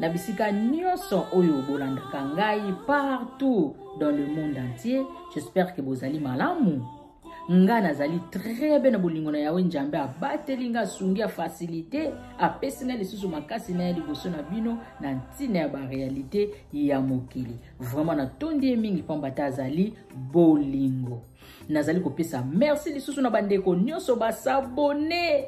na bisika nyonso oyo bolandaka ngai partout dans le monde entier j'espère que bozali malamu nga nazali très bien na bolingo na yawe njambe abateli nga asungi afasilite apesi nga lisusu makasi na ye liboso na bino na ntina ya barealité ya mokili vraiment natondi ye mingi mpamba te azali bolingo nazali kopesa merci lisusu na bandeko nyonso basabone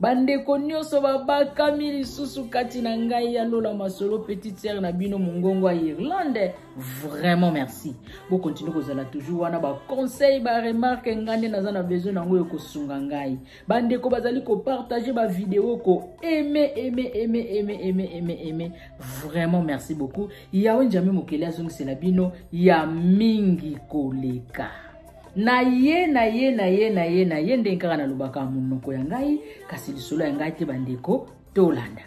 bandeko nyonso babakami lisusu kati na ngai ya lola masolo petite sere na bino mongongo ya irlande vraiment merci bokontinue kozala toujours wana baconseil baremarke ngai nde naza na besoin yango oyo kosunga ngai bandeko bazali kopartage bavideo ko aime aime aime aime aime aime aime vraiment merci beaucoup yawe njambe mokeli azongisela bino ya mingi koleka na ye na ye na ye na ye na ye ndenge kaka nalobaka monoko ya ngai kasi lisolo ya ngai te bandeko tolanda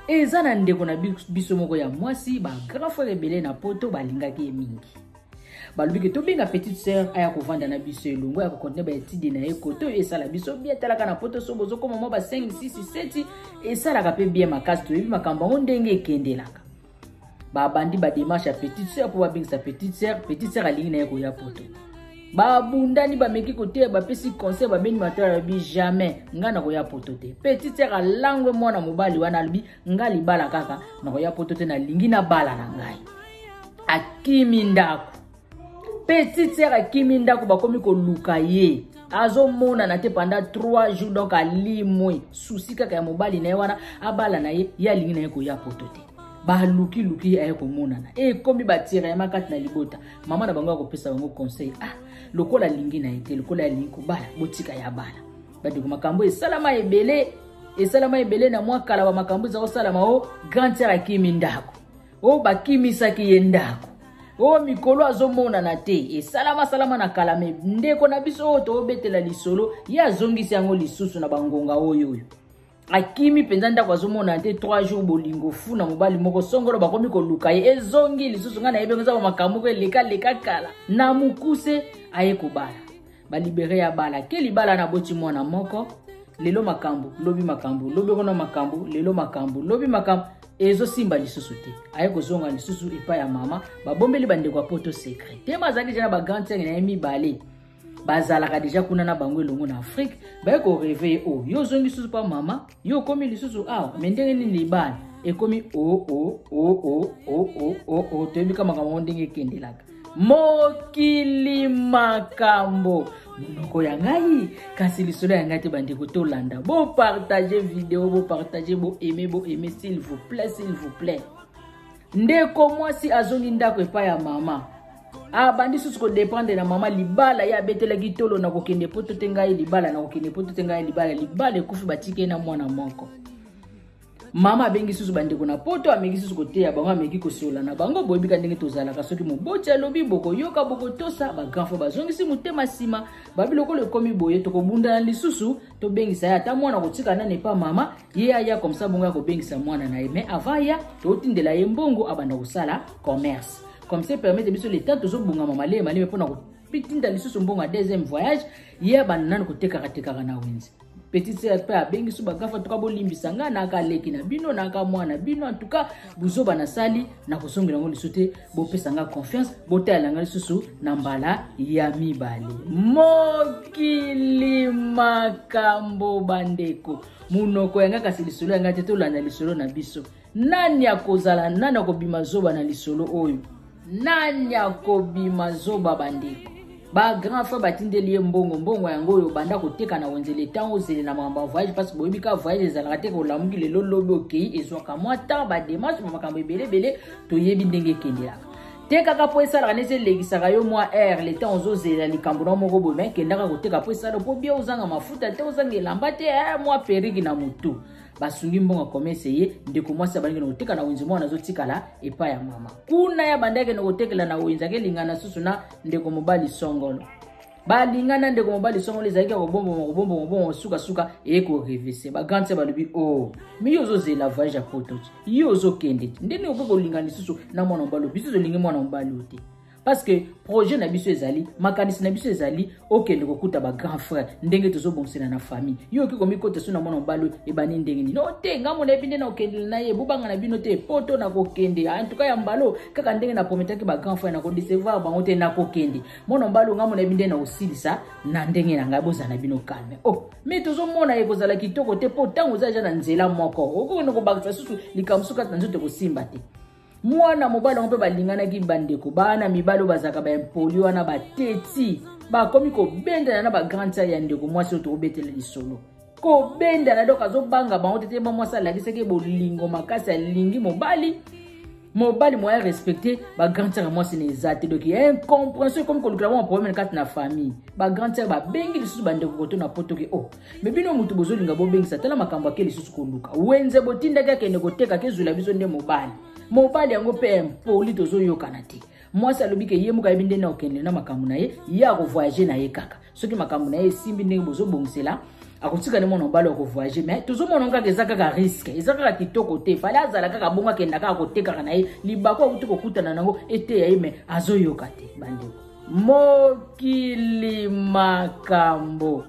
eza na ndeko na biso moko ya mwasi bagrand frere ebele na poto balingaki ye mingi balobi ke tobenga petite sœur aya kovanda na biso elongo ya kokontinue baetide na ye kote oyo esala biso bie talaka na poto so bozokoma mwa basengi sisi seti esalaka mpe bie makasi toyebi makambo yango ndenge ekendelaka babandi bademarche ya petite sœur mpo babengisa petite sœur petite sœur alingi na ye koya poto babundani bameki koteya bapesi conseil babeni mato alobi jamais ngai nakoya poto te petite sœur alangwe mwana mobali wana alobi ngai libala kaka nakoya poto te nalingi nabala na ngai akimi ndako petite sœur akimi ndako bakomi koluka ye azomonana te pendant 3 jours donc alimwe susi kaka ya mobali na ye wana abala na ye ye alingi na ye koya poto te balukiluki aye komonana ekomi batirayama kati na libota mama na bango ya kopesa bango conseil ah lokola alingi na ye te lokola alingi kobala botika ya bala bandeko makambo esalama ebele esalama ebele na mwa kala bamakambo eza kosalama o grand tiere akimi ndako oyo oh, bakimisaki ye ndako oyo oh, mikolo azomonana te esalama salama na kala me ndeko na biso oyo toobetela lisolo ye azongisi yango lisusu na bangonga oyo oyo akimi mpenza ndako azomonana te 3 jours bolingo fu na mobali moko songolo bakomi koluka ye ezongi lisusu ngai nayebi yango eza bamakambo moko elekaleka kala na mokuse aye kobala balibere ya bala ke libala na boti mwana moko lelo makambo lobi makambo lobi okona makambo lelo makambo lobi makambo ezosimba lisusu te aye kozonga lisusu epai ya mama babombeli bandeko ya poto secret tema azalaki deja na bagrande sere na ye mibale bazalaka deja kuna na bango elongo na afrike baye koreve ye oyo yo ozongi lisusu mpa mama Yo okomi lisusu awa me ndenge nini libala ekomi oo toyebi ka makambo yango ndenge ekendelaka mokili makambo monoko ya ngai kasi lisolo ya ngai te bandeko tolanda bopartage video bopartage boaime boaime s'il vous plaît s'il vous plaît ndeko mwasi azongi ndako epai ya mama abandi ah, susu kodependre na mama libala ye abetelaki tolo na kokende poto te ngai libala na kokende poto te ngai libala libala ekufi batiki ye na mwana moko mama abengi susu bandeko na poto ameki susu koteya bango ameki kosola na bango boyebika ndenge tozalaka soki moboti alobi bokoyoka bokotosa bagrandfo bazongisi motema nsima babi lokola ekomi boye tokobundana lisusu tobengisa ye ata mwana kotika nani epa mama ye aya comme ça bongo ya kobengisa mwana na ye mais avant ya totindela ye mbongo abanda kosala commerce comme ça permettre biso leta tozobongama maleye maleme mpona kotinda lisusu mbongo ya deuxième voyage ye abanda nanu kotekakatekaka na wenze petite sœur mpe abengisi bagafa tuka bolimbisa ngai naka leki na bino naka mwana bino antuka buzoba nasali nakosongela yango lisusu te bopesa ngai confiance botalela ngai lisusu na mbala ya mibale mokili makambo bandeko monoko ya ngai kasi lisolo ya ngai te tolanda lisolo na biso nani akozala nani akobima zoba na lisolo oyo nani akobima zoba bandeko bagrand frère batindeli ye mbongo mbongo yango oyo obanda koteka na wenzele ntango ozele na makambo ya voyage parce boyebi kaka voyage ezalaka te kolamuki lelo lobi okei ezwaka mwa temps bademarshe ma makambo ebele ebele toyebi ndenge ekendelaka tekaka mpo esalaka neti elekisaka yo mwa aire le temps ozozela likambo na moko boye mai kendaka koteka mpo esala mpo bia ozanga mafuta te ozanga elamba te eh, mwa periki na motu basungi mbongo komese ye ndeko mwasi abandaki na koteka na wenze mwana azotikala epai ya mama kuna ye abandaki na kotekela na wenze akelingana susu na ndeko mobali songolo balingana ndeko mobali songolo ezalaki ya kobomboma kobomboma kobongo sukasuka eye korevese bagrande se balobi o oh, mi yo ozozela voyage ya poto ti ye ozokende ti nde nini okoki kolinga lisusu na mwana mobali oyo biso tolingi mwana mobali oyo te parce que projet na biso ezali makanisi na biso ezali okende kokuta bagrand frère ndenge tozobongisela na famille yo okoki komikota so na mwana mobali oyo ebandi ndenge nini no te ngambo na yebi nde na kokendela na ye bobanga na bino te poto na kokende en tout cas ya mbalo kaka ndenge na prometaki bagrand frère na kodecevoir bango te na kokende mwana mobali onga mona binde na osilisa na ndenge na ngai bozala bino calme o oh, me tozomona ye kozala kitoko te mpo ntango oza ja na nzela moko okokende kobakisa susu likambo susu kati na nzoto ekosimba te mwana mobali yango mpe balinganaki bandeko bana mibali oyo bazalaka baimpoli wana bateti bakomi kobendana na bagrande sale ya ndeko mwasi oyo tokobetela lisolo kobendana dok azobanga bango tete mwa mwasi alakisaki bolingo makasi alingi mobali mobali moya respecte bagrand sere mwasi na eza te donc ya incomprehension ekomi kolukela bango problème kati na famille bagrand sere babengi lisusu bandeko koto na poto ke o oh, me bino motu bozolinga bobengisa tala makambo ake lisusu koluka wenze botindaki akende koteka kezwela biso nde mobali mobali yango mpe impoli tozoyokana te mwasi alobi ke ye moko ayebi ndenge akokende na makambo na ye ye akovoyage na ye kaka soki makambo na ye esimbi ndenge bozobongisela akotika nde mwana mobali akovoyage mai tozomona kaka eza kaka riske eza kaka kitoko te fale azala kaka bongo akenda kaka kotekaka na ye libaku akuti kokutana na yango eteya ye mai azoyoka te bandeko mokili makambo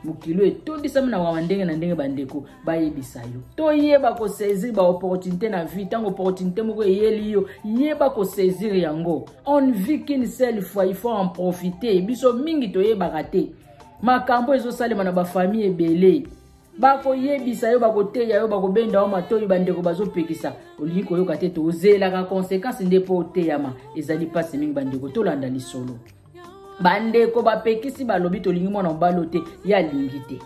mokili oyo etondisami na mawa ndenge na ndenge bandeko bayebisa yo toyeba kosaisir baopportunité na vie ntango opportunité moko eyeli yo yeba kosaisir yango on vie qu'une seule fois il faut en profiter biso mingi toyebaka te makambo ezosalema na bafamille ebele bakoyebisa yo bakoteya yo bakobenda yo matoi bandeko bazopekisa olingi koyoka te tozelaka konsekansi nde mpo oteyama ezali mpasi mingi bandeko tolanda lisolo bandeko bapekisi balobi tolingi mwana mobali oyo te ye alingi te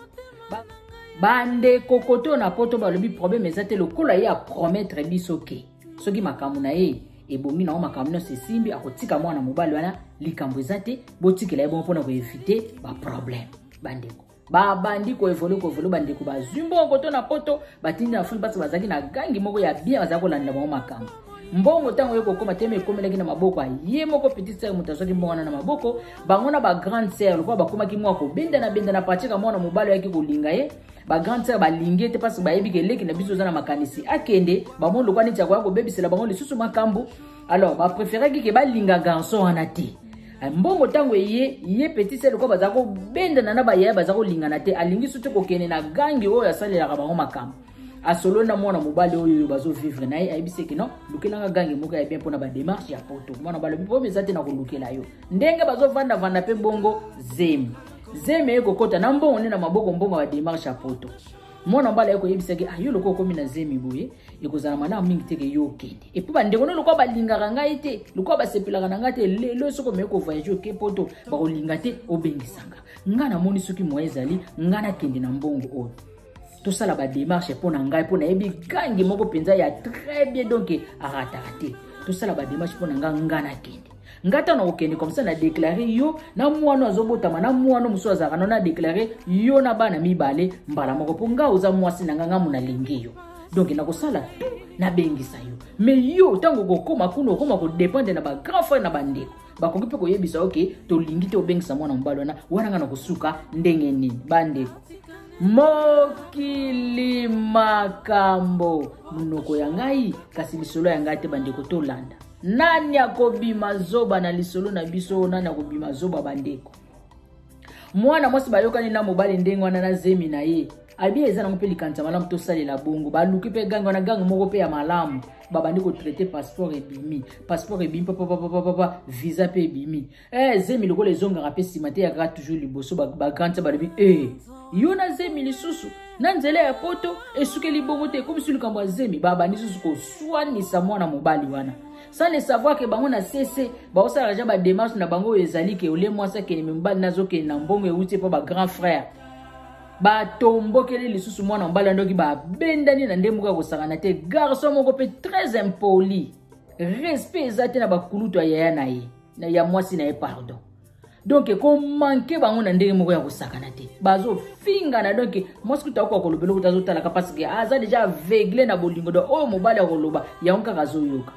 bandeko kote oyo na poto balobi probleme eza te lokola ye apromettre biso ke soki makambo na ye ebongi nango makambo nyonso esimbi akotika mwana mobali wana likambo eza te botikela ye bongo mpona koevite baprobleme bandeko babandi koevole koevole bandeko bazwi mbongo to na poto batindi na fulu mpasi bazalaki na gangi moko ya bien bazalaki kolanda bango makambo mbongo ntango ye kokoma te ekomelaki na maboko ye moko petit sere moto azwaki mbongo wana na maboko bango na bagrande sere lokola bakomaki mwa kobendana bendana patika mwana mobali oyaki kolinga ye bagrande sere balingi ye te mpasi bayebi keleki na biso oza na makanisi akende bamoni lokola neti akoya kobebisela bango lisusu makambo alors ba préféraki ke balinga garçon wana te eh, mbongo ntango eye ye petit sel lokola baza kobendana na bayaya baza kolingana te alingi soki kokende na gangi oyo asalelaka bango makambo asolo na mwana mobali oyo oyo bazovivre na ye ayebisi eke non lukelanga gange moko ya bien mpona bademarche ya poto mwana balobi po eza te na kolukela yo ndenge bazovandavanda mpe bongo zemi zemi eye kokota na mbongo nde na maboko mbongo ya bademarche ya poto mwana mobali aye koyebisa ke ayo ah, lokola okomi na zemi boye ekozala malamu mingi te ke yo okende epui bandeko no lokola balingaka ngai te lokola basepelaka na ngai te lelo soki omeki kovoyage oke poto bakolinga te obengisanga ngai namoni soki moye ezali ngai nakende na mbongo oyo tosala bademarche mpo na ngai mpo nayebi gangi moko mpenza ya très bien donk arataka te tosala bademarche mpo na ngai ngai nakende nga ntango nakokende komsa na deklare yo na mwana azobotama na mwana mosusu azalaka no na deklare yo na bana mibale mbala moko mpo nga oza mwasi na nga nga mo nalingi yo donk nakosala tout nabengisa yo me yo ntango okokoma kuna okoma kodependre na bagrand frère na bandeko bakoki mpe koyebisa yo ke tolingi te obengisa mwana mobali wana wana nga nakosuka ndenge nini bandeko mokili makambo monoko ya ngai kasi lisolo ya ngai te bandeko tolanda nani akobima zoba na lisolo na biso oyo nani akobima zoba bandeko mwana mwasi bayokani na mobali ndenge wana na zemi na ye abi eza nango mpe likanisa malamu tosalela bongo baluki mpe gange wana gange moko mpe ya malamu babandi kotraite passeport ebimi passeport ebimi papapapapapa visa mpe ebimi eh zemi lokola ezongaka mpe nsima te yakaka toujours liboso bagrande ba balobi e eh, yo na zemi lisusu na nzela ya poto esukeli bongo te ekomisi likambo ya zemi babandi lisusu koswanisa mwana mobali wana sans le savoir ke bango na sese baosala deja bademarche na bango oyo ezali ke ole mwasi akende me mobali nazokende na mbongo euti mpo bagrand frère batombokeli lisusu mwana mobali yandoki babendani na nde moko ya kosangana te garçon moko mpe très impoli respect eza te na bakulutu ya yaya na ye na ya mwasi na ye pardon donk ekomanke bango na ndenge moko ya kosakana te bazofingana donk mwasi kuta okoka koloba eloko te azotalaka parceke aza deja aveugle na bolingo don oyo mobali akoloba yango kaka azoyoka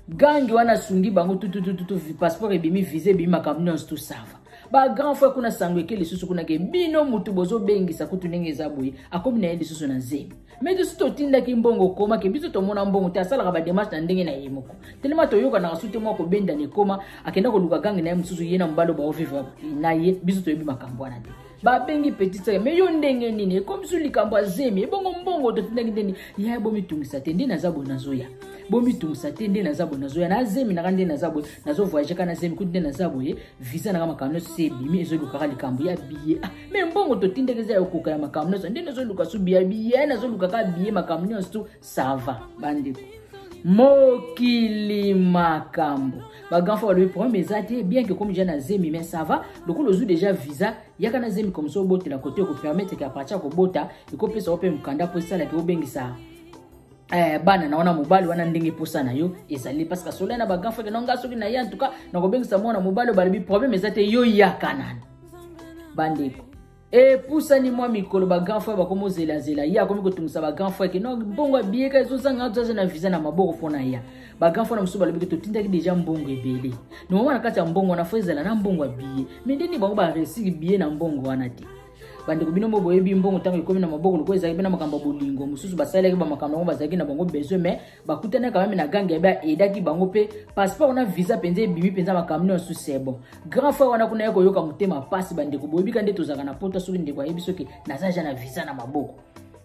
gangi wana asungi bango tututututu passeport ebimi visa ebimi makambo nyonso tosava bagrand frère kuna sango eke lisusu kuna ke bino motu bozobengisa kutu ndenge eza boye akomi na ye lisusu na zemi me biso totindaki mbongo okoma ke biso tomona mbongo te asalaka bademarche na ndenge na ye moko telema toyokanaka su te mwa kobenda na ekoma akenda koluka gange na ye mosusu ye na mobali baovivre na ye biso toyebi makambo wana te babengi petit sere me yo ndenge nini ekomi biso likambo ya zemi ebongo mbongo totindaki ndeni ya bomitungisa te nde naza boye nazoya bomitungisa te nde naza boye nazoya na zemi naka nde naza boye nazovoyage ka na zemi kutu nde naza boye visa naka makambo nyonso se ebimi ezolukaka likambo ya biye ah, me mbongo totindaki eza ya kokoka ya makambo nyonso nde nazoluka so biya biye nazoluka kaka biye makambo nyonso to sava bandeko mokili makambo bagrand fo balobi problème eza te bien ke komi ja na zemi mais ça va lokola ozwi déjà visa yaka na zemi comme ça obotela kote ekopermettre ke apartir ya kobota ekopesa yo mpe mokanda mpo esalaki obengisa eh, bana na wana mobali wana ndenge posa na yo ezali parce que sola na ba grand frère na nga soki na ye en tout cas na kobengisa mwana mobali balobi problème eza te yo yaka nani bandeko epusani mwa mikolo ba grand frère bakomi ozelazela ye akomi kotungisa ba grand frère ke no mbongo abiyeka ezozanga azaza na visa na maboko mpo na ya ba grand frère na mosusu balobi ke totindaki deja mbongo ebele nomama na kati ya mbongo wana fo ezala na mbongo ya biye me ndeni bango baresiki biye na mbongo wana te bandeko bino moko boyebi mbongo ntango ekomi na maboko lokola ezalaki mpe na makambo ya bolingo mosusu basalelaki bamakambo yango bazalaki na bango besoin mais bakutanaka meme na gange yabe aedaki bango mpe passeport wana visa mpenza ebimi mpenza makambo nyonso sebo grand frère wana kuna ye koyoka motema mpasi bandeko boyebi ka nde tozalaka na poto soki ndeko ayebi soki naza ja na visa na maboko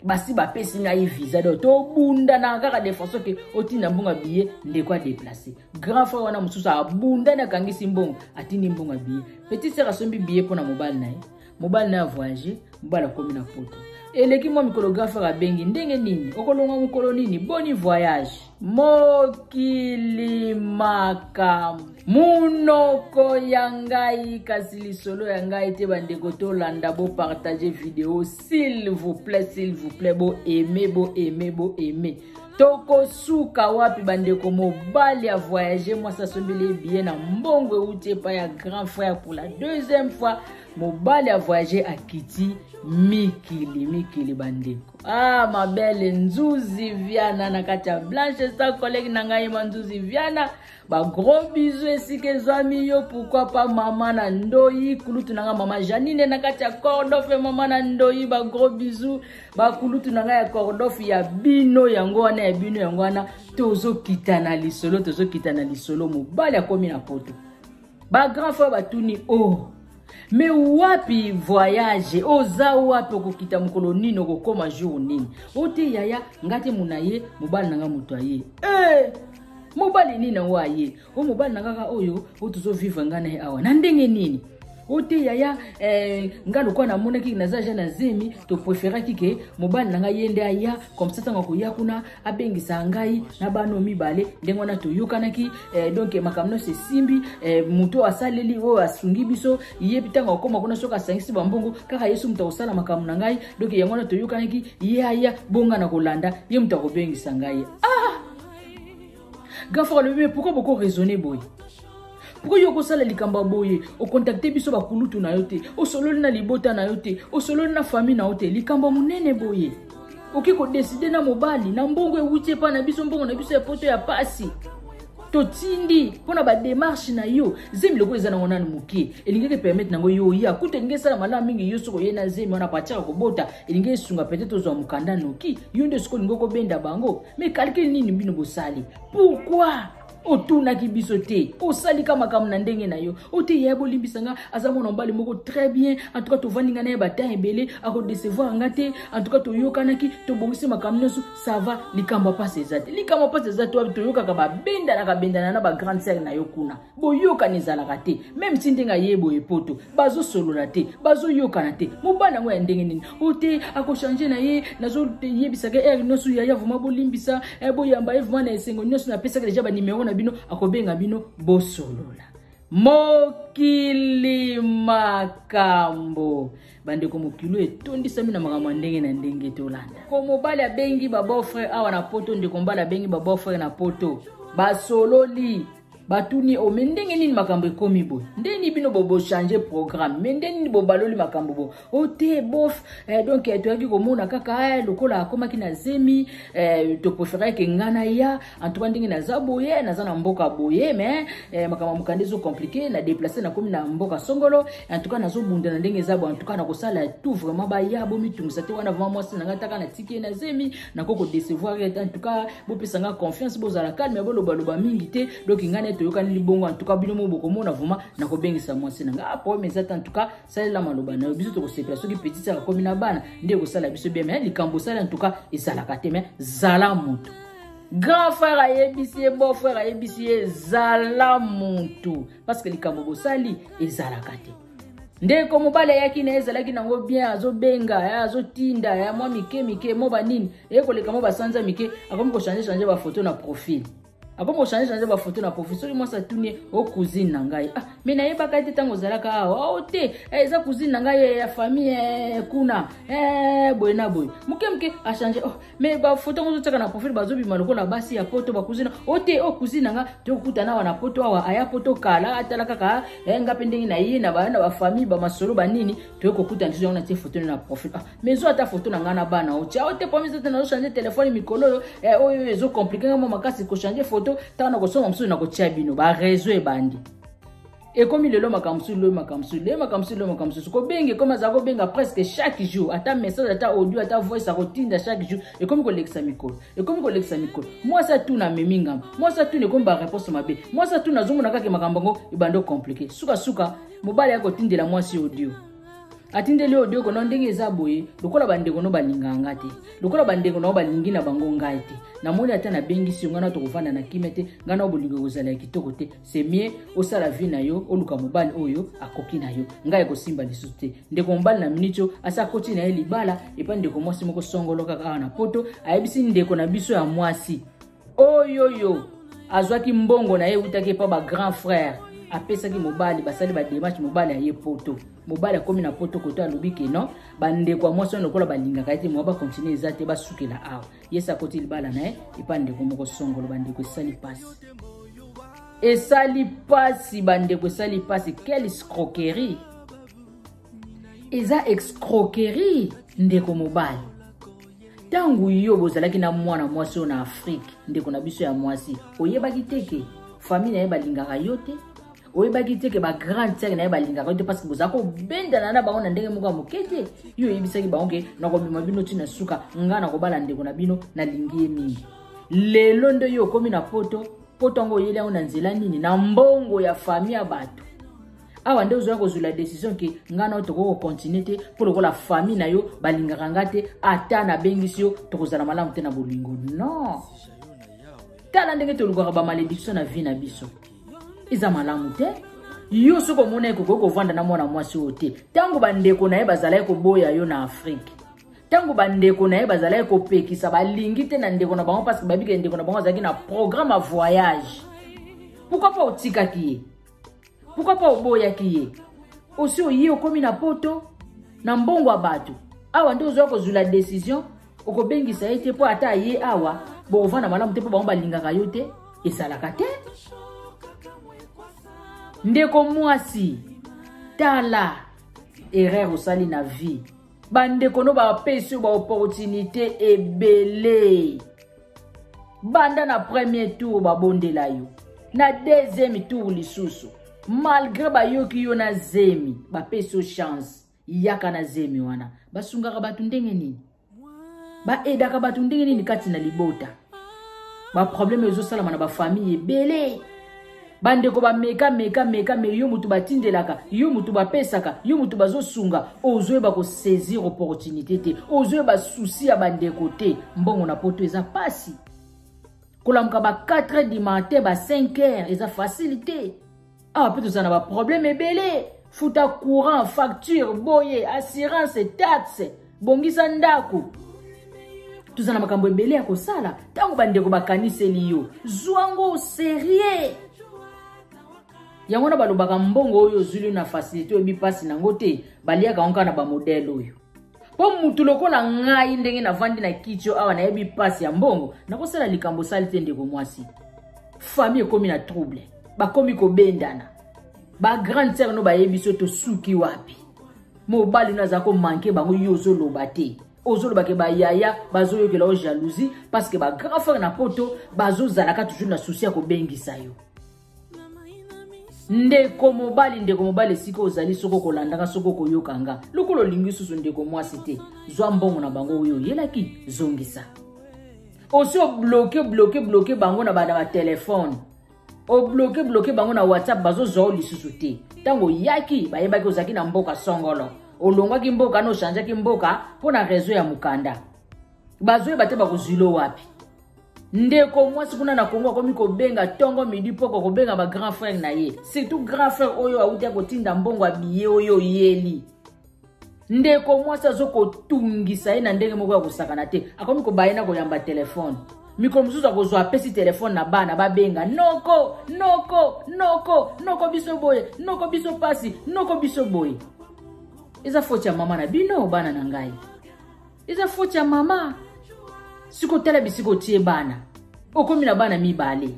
basi bapesi ngai visa do tobundana kaka de façon ke otinda mbongo ya biye ndeko adeplace grand frère wana mosusu abundani akangisi mbongo atindi mbongo ya biye petit sere asombi biye mpo na mobali na ye mobali na ya voyage mobali akomi na poto eleki mwa mikolo grand frère abengi ndenge nini okolonga mokolo nini boni voyage mokili makambo monoko ya ngai kasi lisolo ya ngai te bandeko tolanda bopartage video s'il vous plaît s'il vous plaît boaime boaime boaime tokosuka wapi bandeko mobali ya voyage mwasi asombeli ye biye na mbongo euti epai ya grand frère pour la deuxième fois mobali ya voyage akiti mikili mikili bandeko ah mabele nzuzi viana na kati ya blanche sa kolege na ngai ma nzuzi viana ba gros bisous esika ezwami yo pourquoi pas mama na ndoyi kulutu na nga mama janine na kati ya cordofe mama na ndoyi ba gros bisous bakulutu na nga ya cordofe ya bino yango wana ya bino yango wana tozokita na lisolo tozokita na lisolo mobali akomi na poto ba grand frère batuni o oh. me wapi voyage oza wapi okokita mokolo nini okokoma jour nini ote yaya nga te mona ye mobali na nga moto aye hey! Eh! mobali nini yango aye o mobali na kaka oyo oyo tozovivre ngai na ye awa na ndenge nini o te yaya eh, nga lokola namonaki naza ja na zemi topreferaki ke mobali na ngai ye nde aya komsa ntango akoya kuna abengisa ngai na bano mibale ndenge wana toyokanaki eh, donk makambo nyonso esimbi eh, moto oyo asaleli oyo asungi biso ye ntango akoma kuna soki asangisi bambongo kaka yesu moto akosala makambo na ngai donk yango wana toyokanaki ye aya bonga na kolanda ye moto akobengisa ngai ah! gafaka lobi me pourkui boko raisonne boye pourkoi yo okosala likambo ya boye okontakte biso bakulutu na yo te osololi na libota na yo te osololi na famille na yo te likambo ya monene boye oke kodeside na mobali na mbongo ewuti epai na biso mbongo na biso ya poto ya pasi totindi mpo na bademarshe na yo zemi lokola eza nango nanu moke elingaki epermete nango yo oya kutu elingi esala malamu mingi yo soki oye na zemi wana patiaka kobota elingi esunga petete ozwa mokanda noki yo nde soki olingi okobenda bango me calcule nini bino bosali pourkui otunaki biso te osalika makambo na ndenge na yo oyo te yaya bolimbisa nga aza mwana mobali moko très bien en tout cas tovandi nga na ye batemp ebele akodecevoir nga te en tout cas toyokanaki tobongisi makambo nyonso ça va likambo ya mpasi eza te likambo ya mpasi eza te wapi toyokaka babendanaka bendana na bagrande sere na yo kuna boyokani ezalaka te meme si ndenge aye boye poto bazosolola te bazoyokana te mobali yango ya ndenge nini oyo te akochange na ye nazoyebisaka ere nyonso yaya vraimen bolimbisa eh, boyamba ye vraimen na esengo nyonso napesaka deja banimero na bino akobenga bino bosolola mokili makambo bandeko mokili oyo etondisami na makambo ya ndenge na ndenge tolanda ko mobali abengi babeau frere awa na poto ndeko mbali abengi babeau frere na poto basololi batuni ye o oh, me ndenge nini makambo ekomi boye ndenge nini bino bobochange programme me ndenge nini bobaloli makambo boye o oh, te bof eh, donc eh, toyaki komona kaka eh, lokola akomaki na zemi eh, toprefereke nga na ya antuka ndenge naza boye naza na mboka boye me eh, makambo ya mokanda ezo komplike na deplace nakomi na mboka songolo antuka nazobunda na ndenge eza boye antuka nakosala tout vraiment baya bomitungisa te wana vraiment mwasi na ngai taka natiki ye na zemi nako kodecevoir ye te en tout cas bopesa nga confiance bozala calme bolobaloba mingi te donc ngai naye toyokani libongo en tout cas bino mo bokomona vraimen nakobengisa mwasi na ngai ah, problème eza te en tout cas salela maloba na yo biso tokosepela soki petite akomi na bana nde ekosala biso bien mais likambo osali en tout cas ezalaka te mais zala moto grand frère ayebisi ye beau frère ayebisi ye zala moto parce que likambo bosali ezalaka te ndeko mobali ayaki na ye ezalaki nango bien azobenga eh, azotinda ya eh, mwa mike mike mo banini eye koleka mo basanza mike akomi kochange change bafoto na profil akomi kochange change bafoto na profil soki mwasi atuni ye o oh, cousine na ngai ah me nayebaka ye te ntango ozalaka awa ah, o oh, te eh, eza cousine na ngai ya famille kuna boye na boye moke moke achange oh, me bafoto yango ozotiaka na profile bazobima lokola basi ya poto bakuzina o te o kuzine na nga tokutana awa na poto awa aya poto kala atala kaka eh, nga mpe ndenge na ye na bana bafamille bamasolo banini toye kokutana lisu yango natie foto na profile ah, me zo ata foto na ngai na bana o tia o te pomiso te nazochange telefone mikolo oyo eh, oyo ezokomplike nga mwa makasi kochange foto ntango nakosonga mosusu nakotia bino barezo ebandi ekomi lelo makambo mosusu loyi makambo mosusu leye makambo mosusu loyi makambo mosusu kobenga ekomi aza kobenga presque chaque jour ata message ata audio ata voice akotinda chaque jour ekomi kolekisa mikolo ekomi kolekisa mikolo mwasi atuna amemi ngambo mwasi atuna ekomi bareponse mabe mwasi atuna azomona kaka makambo yango ebando komplike sukasuka mobali ya kotindela mwasi audio atindeli yo odioko na ndenge eza boye lokola bandeko no balingaka nga te lokola bandeko nao balingi na bango ngai te namoni ata nabengisi yo ngai na tokovanda na kimia te ngai nao bolingo ekozala ya kitoko te c'est mieux osala vie na yo oluka mobali oyo akoki na yo ngai ekosimba lisusu te ndeko mobali na miniti oyo asi akoti na ye libala epai ndeko mwasi moko songolo kaka awa na poto ayebisi ndeko na biso ya mwasi oyoyo azwaki mbongo na ye eutaki epa ba grand frère apesaki mobali basali bademache mobali aye poto mobali akomi na poto koto alobi ke non bandeko ya mwasi wana lokola balingaka ye te mwa bakontinue eza te basukela awa yesi akoti libala na ye epa ndeko moko songolo bandeko esali pasi esali pasi bandeko esali pasi quelle escroquerie eza escroquerie ndeko mobali ntango yo bozalaki na mwana mwasi oyo na afrike ndeko na biso ya mwasi oyebaki te ke famille na ye balingaka yo te oyebaki te ke ba grande sere na ye balingaka yo te parce que boza kobendana na bango na ndenge moko ya moke te yo oyebisaki bango ke nakomema bino ti na suka ngai nakobala ndeko na bino nalingi ye mingi lelo nde yo okomi na poto poto yango oyeli yango na nzela nini na mbongo ya fami ya bato awa nde ozoya kozwela decision ke ngai nao tokoki kokontinue te mpo lokola fami na yo balingaka ngai te ata nabengisi yo tokozala malamu te na bolingo non tala ndenge tolukaka bamalediction na vie na biso eza malamu te yo soki omona ye kokoki kovanda na mwana mwasi oyo te ntango bandeko na ye bazalaki koboya yo na afrike ntango bandeko na ye bazalaki kopekisa balingi te na ndeko na bango parce que babikele ndeko na bango azalaki na programme ya voyage pourkui mpo otikaki ye pourkui mpo oboyaki ye osi oye okomi na poto na mbongo ya bato awa nde ozwa kozwila decision okobengisa ye te mpo ata aye awa bokovanda malamu te mpo bango balingaka yo te esalaka te ndeko mwasi tala erreur osali na vie bandeko no bapesi yo baopportunité ebele banda na premier tour babondela yo na deuxième tour lisusu malgré bayoki yo na zemi bapesi yo chance yaka na zemi wana basungaka bato ndenge nini baedaka bato ndenge nini kati na libota baproblème ezosalama na bafamille ebele bandeko bameka meka meka me yo moto batindelaka yo moto bapesaka yo moto bazosunga ozoyeba kosaisir opportunité te ozoyeba susi ya bandeko te mbongo na poto eza mpasi kolamuka ba 4 heures du matin ba 5 heures eza facile te awa mpe tozala na baproblème ebele futa courant facture boye assurance taxe bongisa ndako toza na makambo ebele ya kosala ntango bandeko bakaniseli yo zwa ngo serieux yango wana balobaka mbongo oyo ozwili na facilité oyebi mpasi nango te baliaka yango kaka na bamodele oyo mpo motu lokola ngai ndenge navandi na kiti oyo awa nayebi mpasi ya mbongo nakosala likambo osali te ndeko mwasi fami ekomi na trouble bakomi kobendana bagrande sere no bayebi so tosuki wapi mobali no aza komanke bango yo ozoloba te ozoloba ke bayaya bazoyokela yo jalousie parce que bagrand frere na poto bazozalaka toujours na susi ya kobengisa yo ndeko mobali ndeko mobali esika ozali soki okolandaka soki okoyoka nga lokola olingi susu ndeko mwasi te zwa mbongo na bango oyo oyelaki zongisa osi obloke bloke bloke bango na bana batelefone obloke bloke bango na whatsapp bazozwa o lisusu te ntango oyaki bayebaki ozalaki na mboka songolo olongwaki mboka na ochangeaki mboka mpo na rezo ya mokanda bazoyeba te bakozwilo wapi ndeko mwasi kuna na kongo akomi kobenga ntongo midi mpoko kobenga ba grand frère na ye surtout grand frère oyo awuti akotinda mbongo ya biye oyo oyeli ndeko mwasi azokotungisa ye na ndenge moko ya kosakana te akomi kobaye na koyamba telefone mikolo mosusu akozwa apesi telefone na bana babenga noko noko noko noko biso boye noko biso mpasi noko biso boye eza foti ya mama na bino bana na ngai eza foti ya mama siko otala bisika otie bana okomi na bana mibale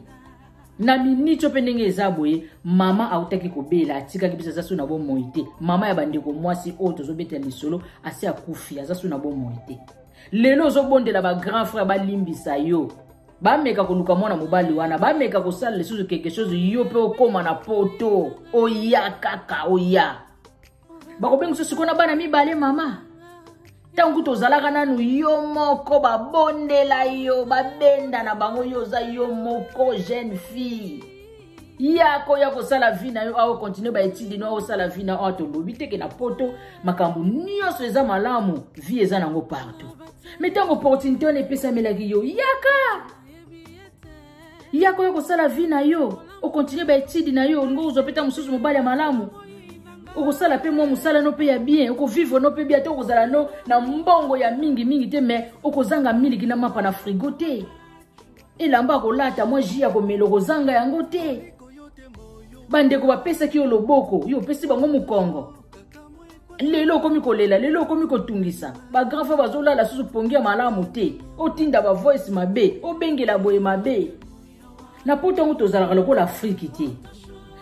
na miniti mpe ndenge eza boye mama autaki kobela atikaki biso aza so na bomoi te mama ya bandeko mwasi oyo tozobetela lisolo asi akufi aza so na bomoi te lelo ozobondela bagrand frère balimbisa yo bameka koluka mwana mobali wana bameka kosala lisusu quelque chose yo mpe okóma na poto oya kaka oya bakobenga so sikoyo na bana mibale mama ntango kutu ozalaka nanu yo moko babondela yo babenda na bango yo oza yo moko jeune fille ye akoya kosala vi na yo aokontinue baetidi no aosala vi na oyo tolobi teke na poto makambo nyonso eza malamu vi eza nango partout me ntango opportunité wana epesamelaki yo yaka ya koya kosala vie na yo okontinue baetide na yo olingi okozwa mpe ntango mosusu mobali ya malamu okosala mpe mwa mosala no mpe ya bien okovivre no mpe bien ata okozala no na mbongo ya mingi mingi te mai okozanga miliki na mapa na frigo te elamba akolata mwa ji ya komela okozanga yango te bandeko bapesaki yo loboko yo opesi bango mokongo lelo okomi kolela lelo okomi kotungisa bagrand frere bazolala susu pongi ya malamu te otinda bavoice mabe obengela boye mabe na poto yango tozalaka lokola afriki te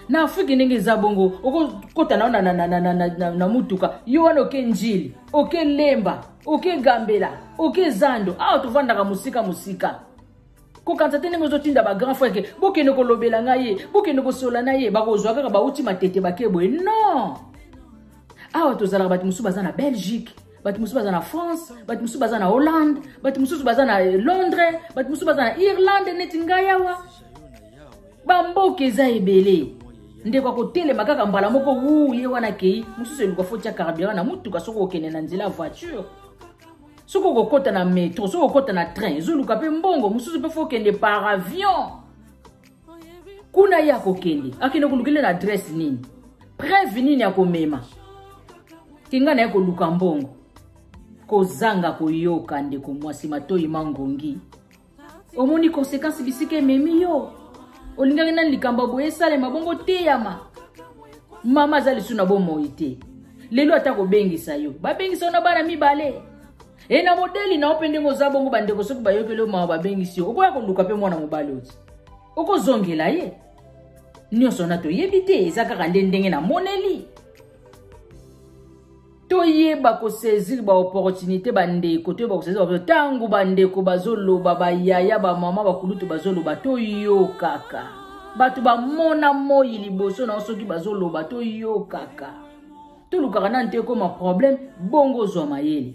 na afriki ndenge eza bongo okokota nao na, na, na, na, na, na, na, na mutuka yo wana oke njili oke lemba oke gambela oke zando awa tovandaka mosika mosika kokanisa te ndenge ozotinda bagrand frère ke bokende kolobela ngai ye bokende kosola na ye bakozwa kaka bauti matete bake boye non awa tozalaka bato mosusu baza na belgique bato mosusu baza na france bato mosusu baza na hollande bato mosusu baza na eh, londres bato mosusu baza na irlande neti ngai awa bamboka eza ebele ndeko akotelema kaka mbala moko wu ye wana akei mosusu eluka foti ya carburant na motuka soki okende na nzela ya voiture soki okokota na metro soki okokota na train ezoluka mpe mbongo mosusu mpe fokende par avion kuna ye akokende akende kolukele na adresse nini preuve nini akomema tinga na ye koluka mbongo kozanga koyoka ndeko mwasi matoyi mangongi omoni konsekansi bisika ememi yo olingaki nani likambo ya boye esalema bongo teyama mama aza lisusu na bomoi te lelo ata kobengisa yo babengisa yo na bana mibale e na modeli na yo mpe ndenge oza bongo bandeko soki bayokeli yo mawa babengisi yo okoya koluka mpe mwana mobali oti okozongela ye nyonso wana toyebi te eza kaka nde ndenge namoneli toyeba kosaisir baopportunité bandeko toyeba kosaisir baopo ntango bandeko bazoloba bayaya bamama bakulutu bazoloba toyokaka bato bamona moi liboso na yo soki bazoloba toyokaka tolukaka nanu te ekoma problème bongo ozwa mayele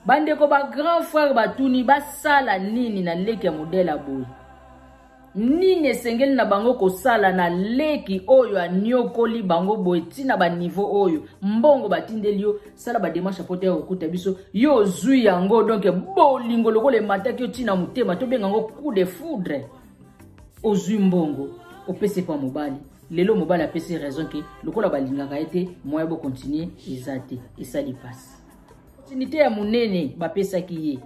bandeko bagrand frère batuni basala nini na leki ya modele ya boye nini esengeli na bango kosala na leki oyo aniokoli bango boye ti na baniveau oyo mbongo batindeli yo sala bademarshe mpo te ya kokuta biso yo ozwi yango donk bolingo lokola emataki yo ti na motema tobenga yango coup de foudre ozwi mbongo opesi epa mobali lelo mobali apesi raison ke lokola balingaka ye te moya bokontinue eza te esali mpasi opportunité ya monene bapesaki ye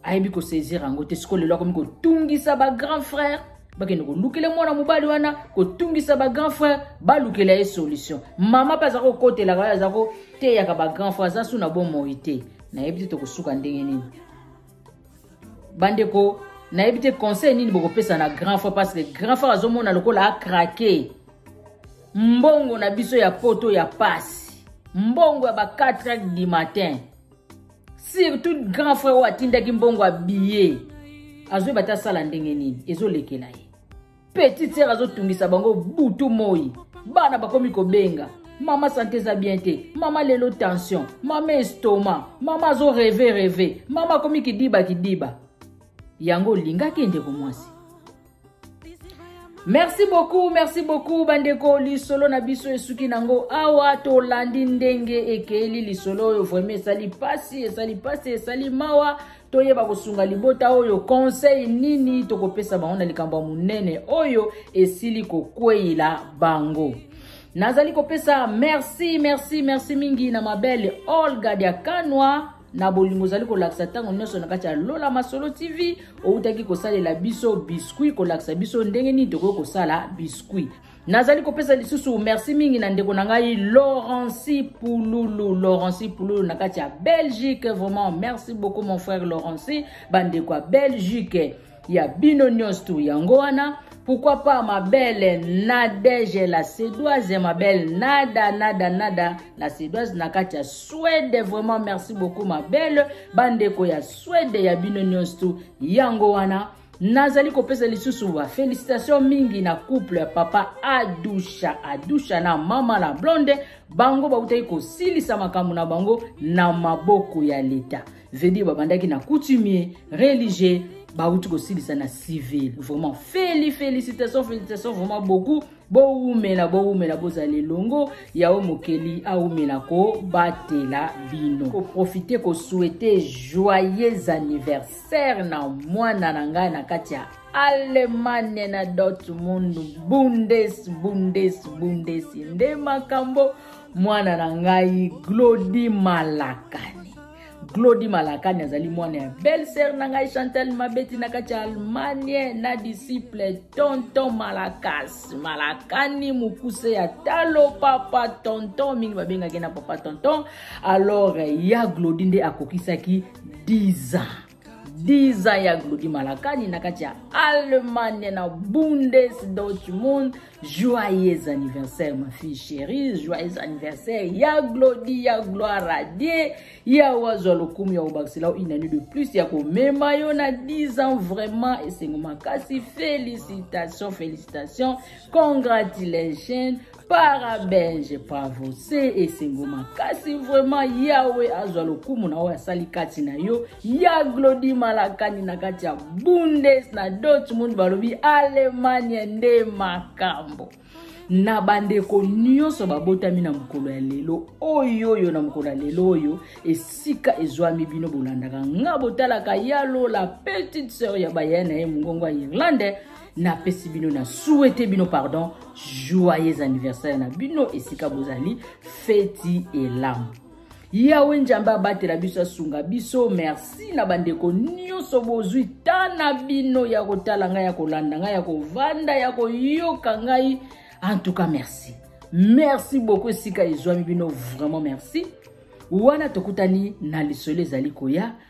ayebi kosaisir yango te sikoyo lelo akomi kotungisa bagrand frère bakende kolukela mwana mobali wana kotungisa bagrand frère balukela ye solution mama mpe aza kokotelaka oyo aza koteyaka bagrand frère aza su na bomoi te nayebi te tokosuka ndenge nini bandeko nayebi te conseil nini bokopesa na grand frère parce que grand frère azomona lokola akrake mbongo na biso ya poto ya pasi mbongo ya ba 4 heures du matin surtout grand frère oyo atindaki mbongo ya billet azoyeba te asala ndenge nini ezolekela ye petite sere azotungisa bango butu moi bana bakomi kobenga mama sante eza bien te mama lelo tension mama estoma mama azo reve reve mama akomi kidiba kidiba yango olingaki ndeko mwasi merci beaucoup merci beaucoup bandeko lisolo na biso esuki nango awa tolandi ndenge ekeli lisolo oyo vraimen esali mpasi esali mpasi esali mawa toyeba kosunga libota oyo conseil nini tokopesa bango na likambo ya monene oyo esili kokweyela bango nazali kopesa merci merci merci mingi na mabele olga diakanwa na bolingo ozali kolakisa ntango nyonso na kati ya lola masolo tv outaki kosalela biso biscuit kolakisa biso ndenge nini tokoki kosala biscuit nazali kopesa lisusu merci mingi na ndeko na ngai laurenci pululu laurenci pululu na kati ya belgique vraiment merci beaucoup mon frère laurenci bandeko ya belgique ya bino nyonso tu yango wana pourquoi pas ma belle nadege la suédoise ma belle nada nada nada la suédoise na kati ya swede vraiment merci beaucoup ma belle bandeko ya swede ya bino nyonso tu yango wana nazali kopesa lisusu ba felicitation mingi na couple ya papa adusha adusha na mama la blonde bango bautaki kosilisa makambo na bango na maboko ya leta vedir babandaki na coutumier religieux bauti kosilisa na civil vraiment feli felicitation felicitation vraiment beaucoup bowumela bowumela bozala elongo yawe mokeli awumela kobatela bino koprofite kosuete joyeux anniversaire na mwana na ngai na kati ya allemagne na dortmund bundes bundes bundes nde makambo mwana na ngai glodi malakani glodi malakani azali mwana ya belle sœur na ngai chantal mabeti na kati ya allemagne na disciple tonton malakas malakani mokuse ya talo papa tonton mingi babengaki na papa tonton alors ya glodi nde akokisaki 10 ans 10 ans ya glodi malakani na kati ya allemagne na bundesdeutschmund Joyeux anniversaire ma fille chérie, joyeux anniversaire ya Glody, ya Gloire à Dieu, ya wazwa lokumu ya obakisela une année de plus ya komema yo na 10 ans vraiment esengo makasi félicitations félicitations congratulations parabenge bravo se esengo makasi vraiment yawe azwa lokumu na oyo asali kati na yo ya glodi malakani na kati ya bundes na dortmund balobi alemania nde makambo na bandeko nyonso babotami na mokolo ya lelo oyo oyo na mokolo ya lelo oyo esika ezwami bino bolandaka nga botalaka ya lola petite sœur ya baya na ye mongongo ya irlandais napesi bino na souhaite bino pardon joyeux anniversaire na bino esika bozali feti elamu yawe njambe abatela biso asunga biso merci na bandeko nyonso bozwi ta na bino ya kotala ngai ya kolanda ngai ya kovanda ya koyoka ngai en tout cas merci merci beaucoup esika ezwami bino vraiment merci wana tokutani na lisolo ezali koya